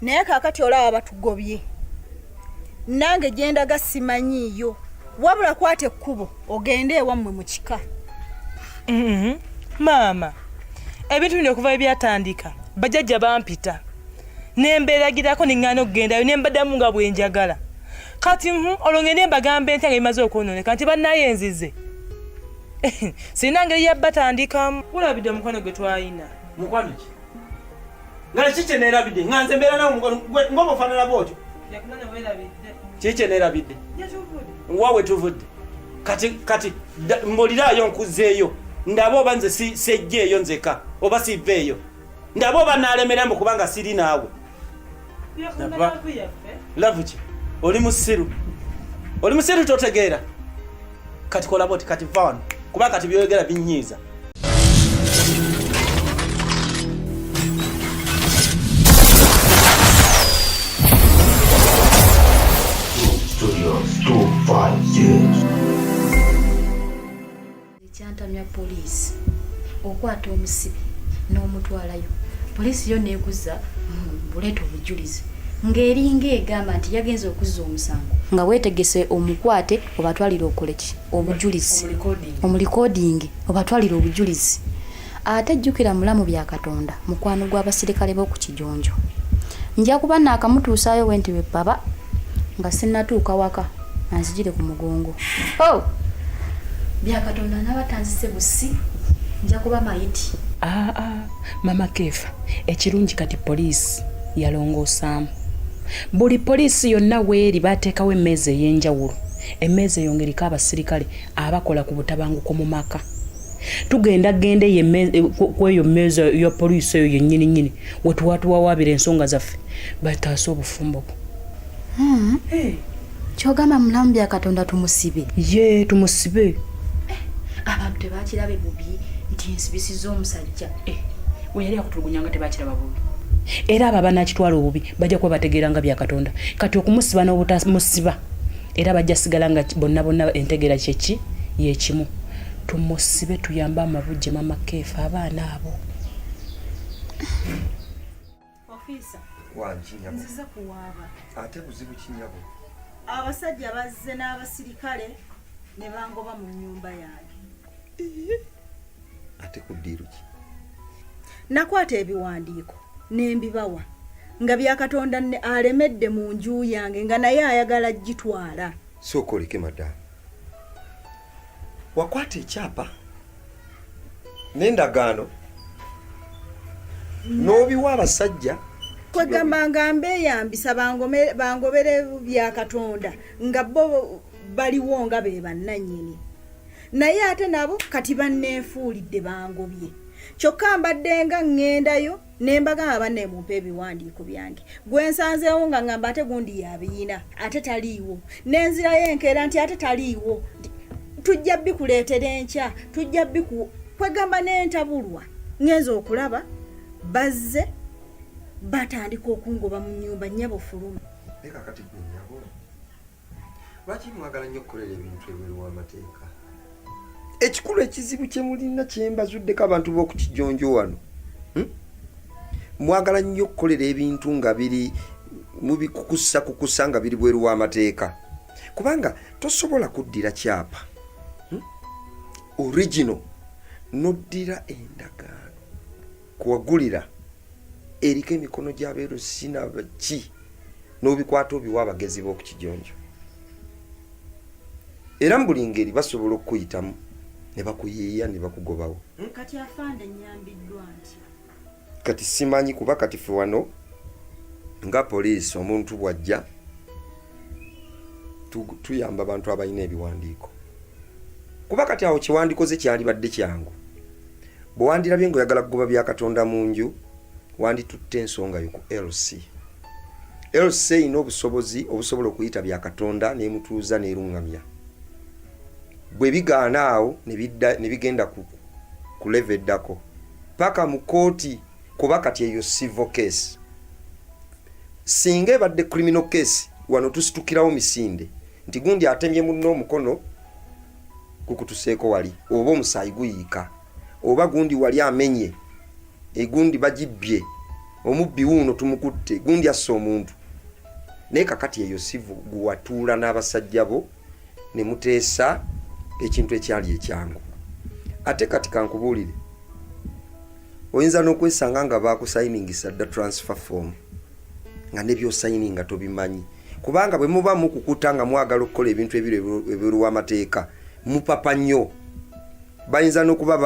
naye kakati olaba batugobye nange gyendaga simanyiiyo wabula kwata ekkubo ogende ewammwe mu kika mm-hmm. maama ebintu bino okuva ebyatandika bajajja bampita nembeeragirako neŋŋana okugendayo nembadamu nga bwenjagala kati mm-hmm, olwo ngende mbagamba entya nga bimaze okwononeka nti bannaye nzize sirina ngeri yabbatandikamu kulabidde omukwano gwe twalina nga kiki kye neerabidde nga nze mbeera nawe mukwano ngoba ofaanana bwotyo kiki kye neerabidde wa we tuvudde kati kati mbuliraayo nkuzeeyo ndaba oba nze sejja eyo nzeka oba siva eyo ndaba oba naalemera mbu kubanga siri naawe lavu ki oli musiru oli musiru totegeera kati kolabo ti kati va wano kuba kati byoyogera binyiiza ekyantamya poliisi okwata omusibe n'omutwalayo poliisi yo neekuza buleeta obujulizi ng'eringa egamba nti yagenza okuzza omusango nga weetegese omukwate obatwalire okoleki obujulizi omulikodingi obatwalire obujulizi ate jjukira mulamu bya katonda mukwano gw'abasirikale b'oku kijonjo nja kuba naakamutuusaayo wenti lwe baba nga sinnatuuka waka anzijire ku mugongo oh! bya katonda naba tanzise busi nja kuba mayiti aa ah, ah, mama keefa ekirungi kati poliisi yalongoosaamu buli poliisi yonna weeri baateekawo emmeeza ey'enjawulo emmeeza eyongeriko abasirikale abakola ku butabanguko mu maka tugenda genda kweyo meeza ya poliisi eyo yennyini nyini wetuwatuwawaabira ensonga zaffe bataase obufumbo bwo hmm. eh. kyogamba mulamu bya katonda tumusibe ye tumusibe eh, abantu tebakirabe bubi nti nsibisiza omusajja eh, weyali akutulugunya nga tebakiraba bubi era abo abanakitwala obubi bajja kuba bategeera nga bya katonda kati okumusiba n'obutamusiba era bajja sigala nga bonna bonna entegeera kyeki yekimu tumusibe tuyambe amabujje mama keefu abaana abo nzize kuwaaba ate buzibu kinyabo abasajja bazze n'abasirikale ne bangoba mu nnyumba yange ate ku ddiiru ki nakwata ebiwandiiko ne mbibawa nga byakatonda ne alemedde mu nju yange nga naye ayagala gitwala sooka oleke madamu wakwata ekyapa n'endagaano n'obiwa abasajja kwegamba nga mbeyambisa bangobere bya katonda nga bo baliwo nga be bannannyini naye ate nabo kati banneefuulidde bangobye kyokka mbaddenga ŋŋendayo nembagamba banne mumpe ebiwandiiko byange gwensanzeewo nga ngamba ate gundi yabiyina ate taliiwo nenzirayo enkeera nti ate taliiwo tujja bikuleetera enkya tujja biku kwegamba nentabulwa ngenza okulaba bazze batandika okungoba mu nyumba nyabo fuluma lwaki mwagala nnyo okukolera ebintu ebweru w'amateeka ekikulu ekizibu kye mulina kyembazuddeko abantu b'okukijonjo wano hmm? mwagala nnyo okukolera ebintu nga biri mubikukusa kukusa nga biri bweru w'amateeka kubanga tosobola kuddira kyapa hmm? original noddira endagaano kuwagulira eriko emikono gyabeeru sinabaki n'obikwata obiwa abagezi b'oku kijonjo era mu buli ngeri basobola okukuyitamu ne bakuyiiya ne bakugobawo kati afande nyambiddwa nti kati simanyi kuba kati fe wano nga poliisi omuntu bw'ajja tuyamba abantu abalina ebiwandiiko kuba kati awo kyewandikoze kyalibadde kyangu bwe wandirabye ngaoyagala kugoba bya katonda mu nju wanditutte ensonga yo ku lc lc erina obusobozi obusobola okuyita bya katonda nemutuuza neruŋŋamya bwe bigaana awo ne bigenda ku leve eddako paka mu kooti kuba kati eyo civil case singa ebadde criminal case wano tusitukirawo misinde nti gundi atemye munno omukono gukutuseeko wali oba omusaayi guyiika oba gundi wali amenye egundi bagibbye omubbi wuuno tumukutte gundi assa omuntu naye kakati eyo sivu guwatuula n'abasajja bo ne muteesa ekintu ekyali ekyangu ate kati kankubuulire oyinza n'okwesanga nga baakusayiningisa dda transfer form nga nebyosayininga tobimanyi kubanga bwe muba mukukuta nga mwagala okukola ebintu ebiri ebweru w'amateeka mupapa nnyo bayinza n'okuba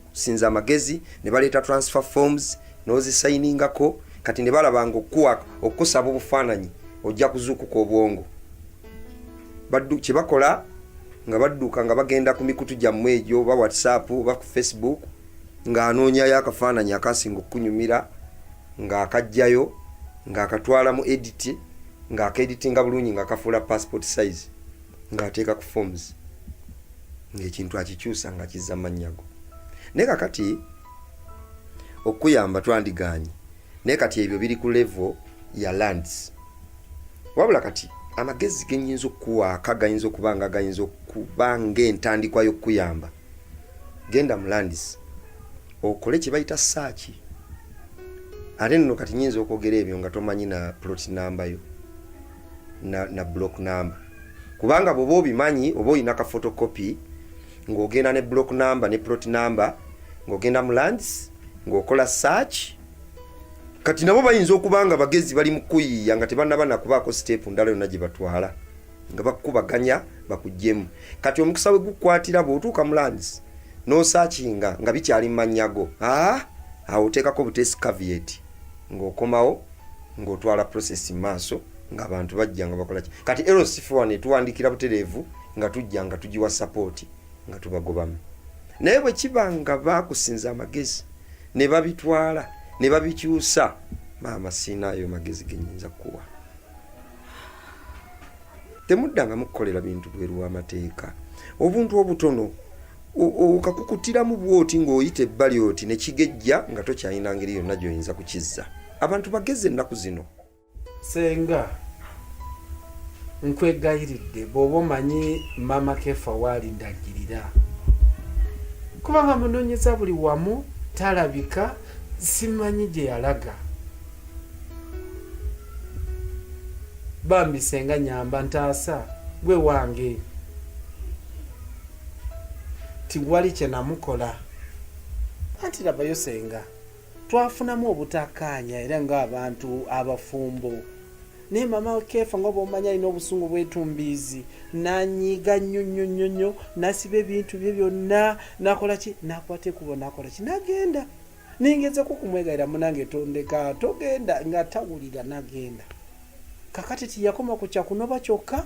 okusinza amagezi ne baleeta transfer forms n'ozisayiningako kati ne balabanga okukuwa okukusaba obufaananyi ojja kuzuukuka obwongo kye bakola nga badduka nga bagenda ku mikutu gyammwe egyo oba whatsapp oba ku facebook ng'anoonyayo akafaananyi akasinga okukunyumira ng'akajjayo ng'akatwala mu editi ng'akaeditinga bulungi ng'akafuula passport size ng'ateeka ku forms ng'ekintu akikyusa nga kizza mannyago naye kakati okukuyamba twandigaanye naye kati ebyo biri ku levo ya lands wabula kati amagezi genyinza okukuwaaka gayinza okuba nga gayinza okuba ng'entandikwa y'okukuyamba genda mu landis okole kye bayita saaki ate nno kati nyinza okwogera ebyo nga tomanyi na plot namba yo na, na block number kubanga bwoba obimanyi oba olina ka photocopy ng'ogenda ne block number ne plot number ng'ogenda mu lands ng'okola search kati nabo bayinza okuba nga bagezi bali mu kuyiiya nga tebanaba nakubaako siteepu ndala yonna gye batwala nga bakukubaganya bakugyemu kati omukisa we gukwatira bw'otuuka mu lands n'osaakinga nga bikyali mu mannya go aa ah, awo oteekako buteesi kavieti ng'okomawo ng'otwala process mu maaso ng'abantu bajja nga bakola ki kati lcf wano etuwandiikira butereevu nga tujja nga tugiwa sapooti nga tubagobamu naye bwe kiba nga baakusinza amagezi ne babitwala ne babikyusa maama siina ayo magezi genyinza kukuwa temudda nga mukukolera bintu bweru wamateeka obuntu obutono okakukutiramu bwoti ng'oyita ebbali oti nekigejja nga tokyalina ngeri yonna gyoyinza kukizza abantu bagezi ennaku zino senga nkwegayiridde bwoba omanyi mama kefa waali ndagirira kubanga munonyeza buli wamu talabika simanyi gye yalaga bambi senga nyamba ntaasa gwe wange tiwali kyenamukola anti labayo senga twafunamu obutakkaanya era ng'abantu abafumbo naye mama keefa nga bwomanya alina obusungu bwetumbiizi nanyiiga nnyo nnyo nnyo nnyo nasiba ebintu bye byonna nakola ki nakwata ekubo nakola ki nagenda nengezeko kumwegaira munange tondeka togenda nga tawulira nagenda kakati tiyakoma kukya kunoba kyokka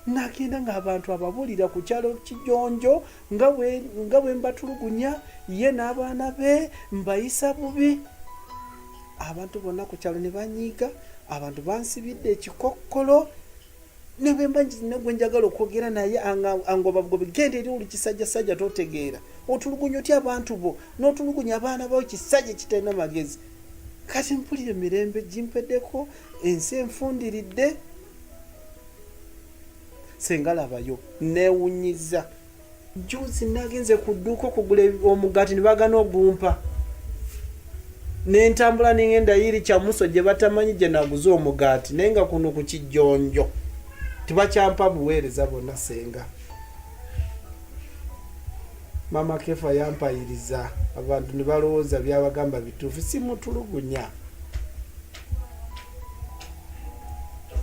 nagenda ngaabantu ababulira ku kyalo kijonjo nga bwembatulugunya ye n'abaana be mbayisa bubi abantu bonna ku kyalo ne banyiiga abantu bansibidde ekikokkolo nebwemba nina gwenjagala okwogera naye angobabugobi genda eri oli kisajja sajja totegeera otulugunya otya abantu bo notulugunya abaana bao kisajja kitalina magezi kati mpulira emirembe gimpedeko ensi enfundiridde sengalabayo newunyiza juzi nagenze ku dduuka okugula omugaati nebagana ogumpa nentambula nengenda yiri kyamuso gye batamanyi gye naguze omugaati naye nga kuno ku kijjonjo tibakyampa buweereza bonna senga mama kefa yampayiriza abantu ne balowooza byabagamba bituufu simutulugunya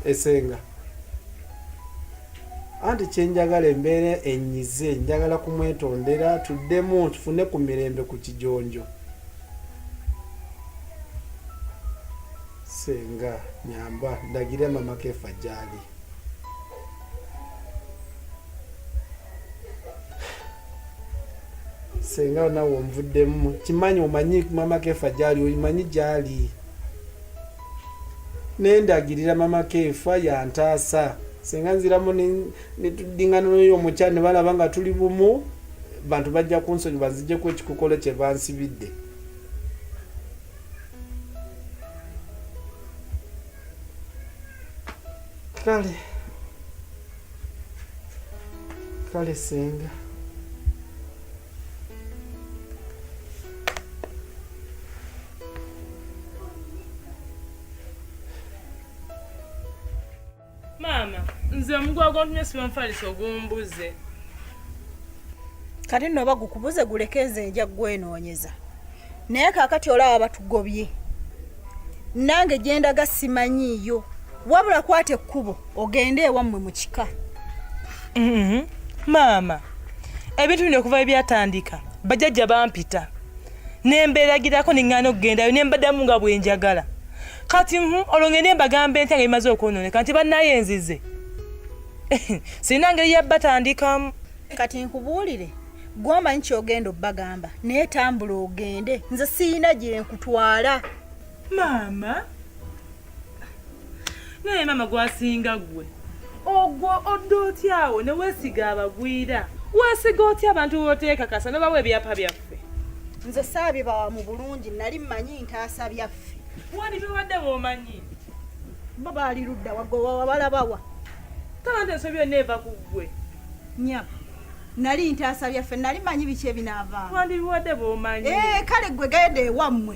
esenga anti kyenjagala embeera enyize njagala kumwetondera tuddemu tufune ku mirembe ku kijonjo senga nyamba ndagire mama kefa gyali senga nawe omuvuddemu kimanyi omanyi mama kefa gyali omanyi gyali nendagirira mama keefa yantaasa singa nziramu netudingana noyo omukya nebalaba nga tuli bumu bantu bajja kunsonyi banzijeko ekikokolo kyebansibidde kale kale senga maama nze omuguwa gwontumye sibanfalisa ogumbuze kati nno oba gukubuze guleke nze nja gwenoonyeza naye kakati olaba batugobye nange gyendaga simanyiiyo wabula kwata ekkubo ogende ewammwe mu kika mm-hmm. maama ebintu bino okuva ebyatandika bajajja bampita ne mbeeragirako ne ŋŋaana okugendayo ne mbaddamu nga bwe njagala kati hmm, olwo ngende mbagamba entya nga bimaze okwonooneka nti bannaye enzize sirina ngeri ya batandikamu kati nkubuulire gwamba nti ogenda obbagamba naye tambula ogende nze siyina gyenkutwala maama naye maama gwasinga gwe ogwo odda otyawo ne weesiga abagwira weesiga otya abantu boteekakasa ne bawa ebyapa byaffe nze saabibawa mu bulungi nali mmanyi ntaasa byaffe wani biwadde womanyi bo baali ludda wagowawa balabawa kala nti ensobi yonna eva ku ggwe nya nali ntaasa byaffe nali manyi biki ebinaavaa wandi biwadde bomanyi eh, kale ggwe genda ewammwe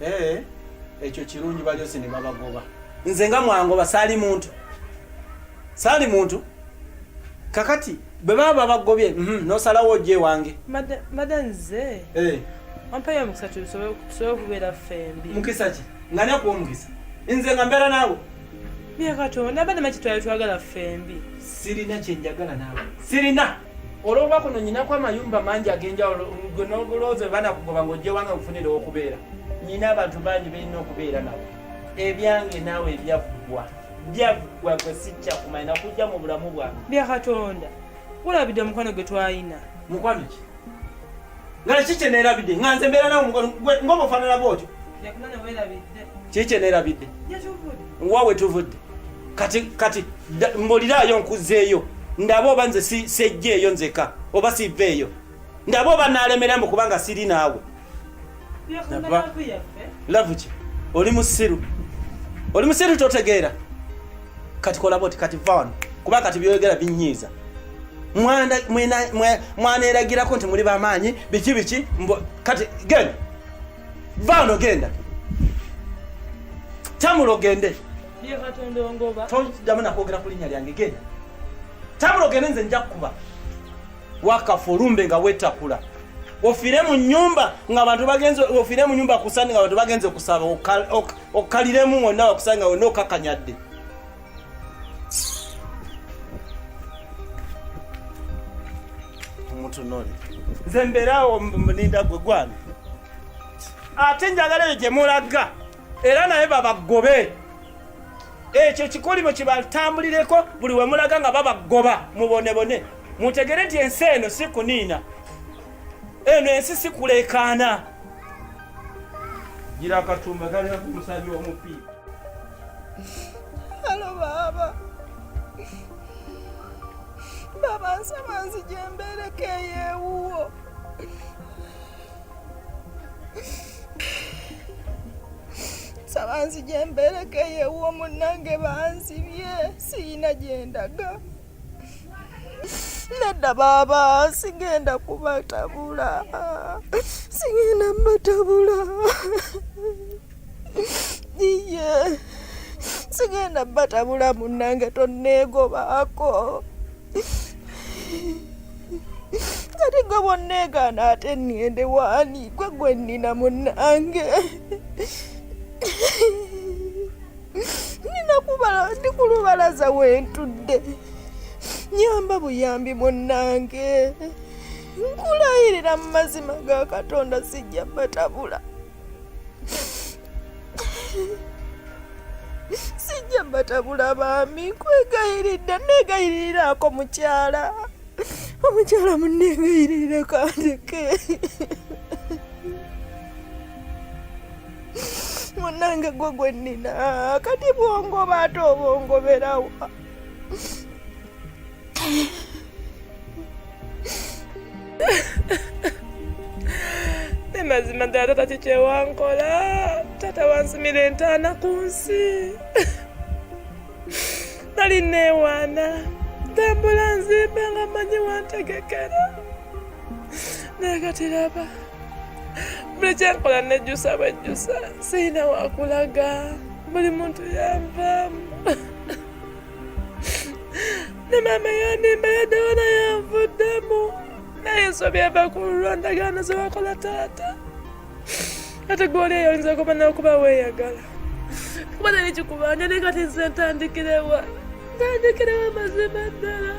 Eh, ekyo kirungi balyose ne babagoba nze nga mwangoba saali muntu saali muntu kakati bwe baba babagobye mhm, nosalawo ojja ewange mada nze eh. ampayo omukisa tusobole okubeera ffembi mukisa ki nga nekuwa omukisa nze nga mbeera naawe Naye Katonda abana maki twali twagala ffembi. Sirina kye njagala naawe. Sirina. Olw'okuba kuno nyinako amayumba mangi ag'enjawulo gwe n'obulooza bana kugoba ng'ojja ewange nkufunira okubeera. Nyina abantu bangi balina okubeera nabo. Ebyange naawe ebyaggwa. Byaggwa gwe sijja kumanya nakujja mu bulamu bwange. Bya Katonda. Olabidde omukwano gwe twalina. Mukwano ki? nga kiki kye neerabidde nga nze mbeera nawe ng'oba ofaanana bwotyo kiki kye neerabidde wa we tuvudde kati kati mbuliraayo nkuzzeeyo ndaba oba nze sejja eyo nzeka oba siva eyo ndaba oba naalemerambu kubanga siri naawe lavu ki oli musiru oli musiru totegeera kati kola boti kati vano kuba kati byoyogera binyiiza mwaneragirako nti muli bamaanyi biki biki kati genda vano genda tamula ogende todamu nakwogera ku linnya lyange genda tamula ogende nze nja kukuba wakafa olumbe nga wetakula ofire mu nyumba nga abantu bagenze ofire mu nyumba kusani nga abantu bagenze okusaba okkaliremu wonna wakusanga wonna okakanyadde omutunole nze mbeerawo mulinda gwe gwani ate njagala eyo gye mulaga era naye babagobe ekyo kikolimo kibatambulireko buli wemulaga nga babagoba mubonebone mutegere nti ensi eno si kuniina eno ensi si kulekaana gira akatumba kalina ku musabi omupi halo baaba baaba nsaba nzije mbeereko eyewuwo nsaba nzije mbeereko eyewuwo munnange banzibye siyina gyendaga nedda baaba sigenda kubatabula sigenda mbatabula iye sigenda batabula munange tonneegobaako kati gwe bonneegaana ate nnende waani gwe gwe nnina munange ninakubala ndi ku lubalaza wentudde nyamba buyambi munnange nkulayirira mu mazima ga katonda sijja batabula sijja batabula baami nkwegayiridde negayiriraako mukyala omukyala munneegayirire kandeke munange gwe gwe nnina kati bwongoba ate obongoberawa mazima ddala tata kikyewankola tata wansimira entaana ku nsi nali neewaana tambula nzimba nga manyi wantegekera naye katiraba buli kyenkola nejjusa bwejjusa sirina wakulaga buli muntu yanvaamu ne maama yanimba yadawona yanvuddemu naye ensobi eva ku lwandagaano zewakola taata ate gwoli eyo oyinza kuba nakuba weeyagala kuba nali kikubanja naye kati nze ntandikirewa ntandikirawo amazima ddala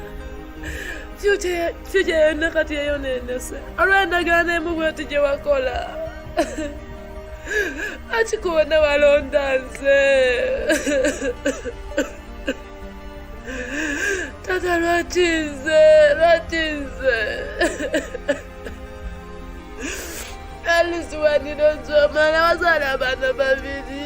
fyukya yonna kati yeyonenese olw'endagaano emu bweti gye wakola akikuwona walonda nze tata lwaki nze lwaki nze alisiwanira nzomala wazaala abaana babiri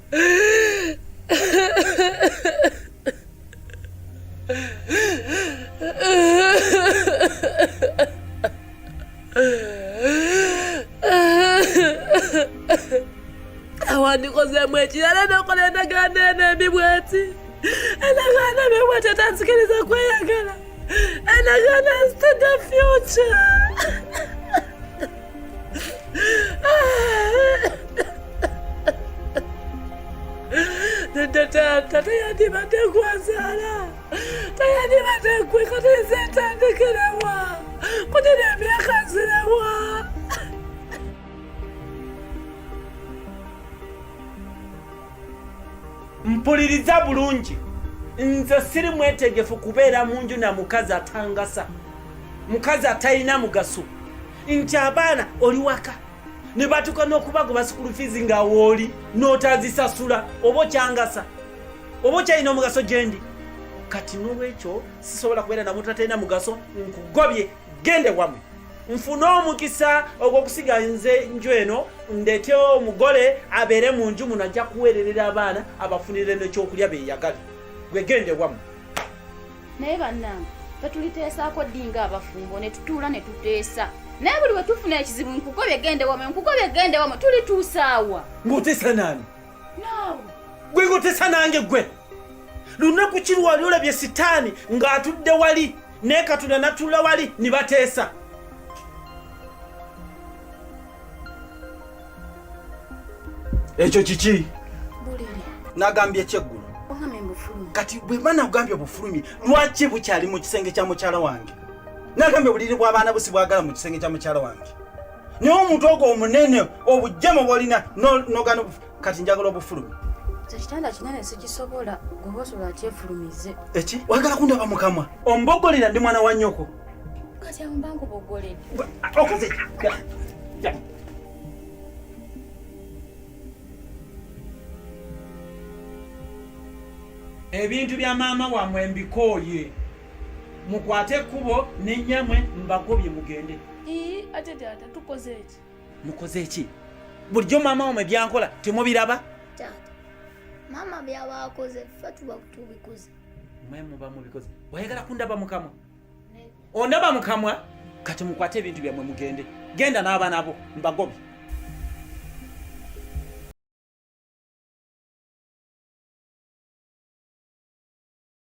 awandikozeemu ekirala nokola endagaano eno embi bweti endagaano embi bweti etansikiriza kweyagala endagaano is to the future tata yandibadde gwazaala tayandibadde gwe kati nze ntandikirewa kunina emyaka nzirewa mpuliriza bulungi nze siri mwetegefu kubeera mu nju na mukazi atangasa mukazi atalina mugaso nti abaana oli waka ne batuuka n'okubagoba sukulu fiizi nga wooli n'otazisasula oba okyangasa oba okyalina omugaso gyendi kati n'olwekyo sisobola kubeera namutatalina mugaso nkugobye gende wamwe nfune omukisa ogwokusiga nze nju eno ndete omugole abeere mu nju muno ajja kuweererera abaana abafunire nekyokulya beyagale gwegende wamwe naye bannange tetuliteesaako ddi nga abafumbo ne tutuula ne tuteesa naye buli we tufuna ekizibu nkugobye gende wamo nkugobye gende wamo tulituusaawa ng'oteesa naani naawe gwe ng'oteesa nange gwe lunaku ki lwali olabye sitaani ng'atudde wali naye katonda natuula wali ne bateesa ekyo kiki nagambye ekyeggulo kati bwemba nagambye obufulumi lwaki bukyali mu kisenge kya mukyala wange nagambye obuliri bw'abaana busi bwagala mu kisenge kya mukyala wange naye omuntu ogwo omunene obujjama bwolina nogana kati njagala obufulumi ekitanda kinene sikisobola gwoba osobola kyefulumize eki wagala kundaba mukamwa ombogolera ndi mwana wa nyoko kati awo mba nkubogoledde okoze ebintu bya maama wamwe mbikooye mukwate ekkubo nenyamwe mbagobye mugende ate taata tukoze eki mukoze eki bulijjo maama wamwe byankola temubiraba taata maama byabakoze ffe tuba tubikoze mwe muba mubikoze wayagala kundaba mukamwa ondaba mukamwa kati mukwate ebintu byamwe mugende genda n'abaana bo mbagobi